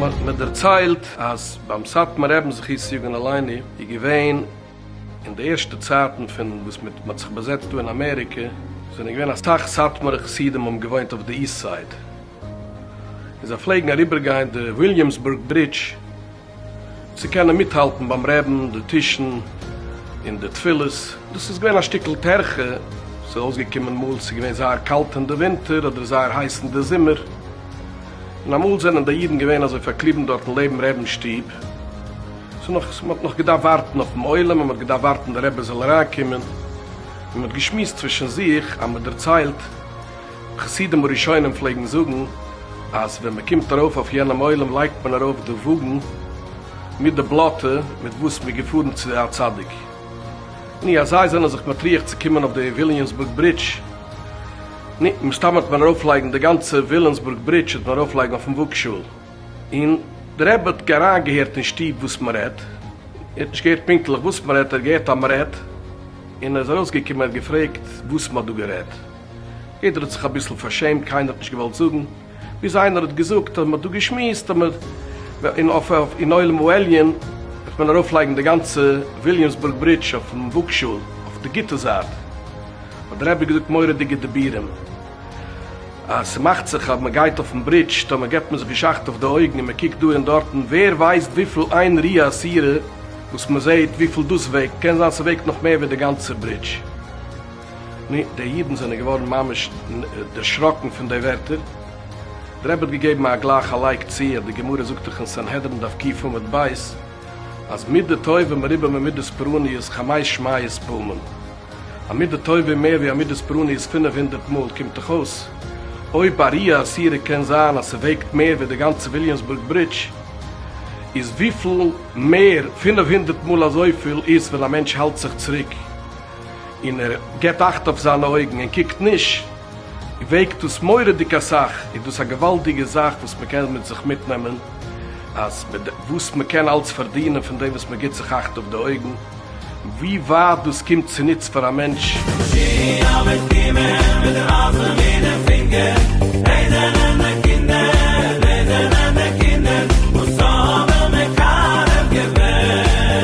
מ'האט דערציילט אז ביים סאטמאר רעבן זכות יגון עלינו איז געווען אין די ערשטע צייטן פון וואס מיט מ'האט זיך באזעצט דא אין אמעריקע זענען געווען אסאך סאטמארע חסידים האבן געוואוינט אויף די איסט סייד און זיי פלעגן אריבערגיין די וויליאמסבורג ברידזש צו קענען מיטהאלטן ביים רעדן, די טישן און די תפילות. דאס איז געווען א שטיקל טרחה, ס'איז אויסגעקומען מאל ס'איז געווען זייער קאלט אין די ווינטער אדער זייער הייס אין די זומער, און אמאל זענען די אידן געווען אזוי פארקליבן דארטן לעבן רעבנ'ס שטוב, ס'איז נאך אז מ'האט נאך געדארפט ווארטן אויפן עולם און מ'האט געדארפט ווארטן די רבי זאל אריינקומען, און מ'האט געשמועסט צווישן זיך אז מ'דערציילט. חסידים הראשונים פלעגן זאגן אז ווען מען קומט ארויף אויף יענעם עולם לייגט מען ארויף די וואגן מיט די בלאטע מיט וואס מען איז געפארן צו א צדיק, ני אז זיי זענען זיך מטריח צו קומען אויף די וויליאמסבורג ברידזש, ני מסתם האט מען ארויפלייגן די גאנצע ווילאמסבורג ברידזש האט מען ארויפלייגן אויפן וואגשאהל, און די רבי האט אריינגעהערט אין שטוב וואס מען רעדט, ער האט נישט געהערט פונקטליך וואס מען רעדט, ער האט געהערט אז מען רעדט, און ער איז ארויסגעקומען ער האט געפרעגט וואס מען האט דא גערעדט. יעדער האט זיך אביסל פארשעמט, קיינער האט נישט געוואלט זאגן, ביז איינער האט געזאגט אז מען האט דא געשמועסט אז מען וועט אין אויף אין עולם העליון וועט מען ארויפלייגן די גאנצע וויליאמסבורג ברידזש אויפן וואגשאהל אויף די גוטע זייט, האט דער רבי געזאגט מורא'דיגע דיבורים אז ס'מאכט זיך אז מען גייט אויפן ברידזש טאמער געבט מען זיך געשאכט אויף די אויגן און מען קוקט דא און דארטן, ווער ווייסט וויפיל איין רי אסירה וואס מען זעהט וויפיל דאס וועגט, קען זיין ס'וועגט נאך מער ווי די גאנצע ברידזש. נו, די אידן זענען געווארן ממש דערשראקן פון די ווערטער. דער רבי האט געגעבן א גלייך א לייק צו, אז די גמרא זאגט דאך אין סנהדרין דף קיט עמוד ב', אז מידה טובה מרובה ממידות פרעניות חמש מאות פעמים. א מידה טובה איז מער ווי א מידת פרעניות פינף הונדערט מאל. קומט דאך אויס, אויב א ריאה אסורה קען זיין אז ס'וועגט מער ווי די גאנצע וויליאמסבורג ברידזש, איז וויפיל מער פינף הונדערט מאל אזויפיל איז ווען א מענטש האלט זיך צוריק און ער געבט אכט אויף זיינע אויגן און קוקט נישט, וועגט דאס מורא'דיג אסאך, איז דאס א געוואלדיגע זאך וואס מען קען מיט זיך מיטנעמען, אז וואס מען קען אלץ פארדינען פון דעם וואס מען גיבט זיך אכט אויף די אויגן, ווי ווייט דאס קומט צוניץ פאר א מענטש.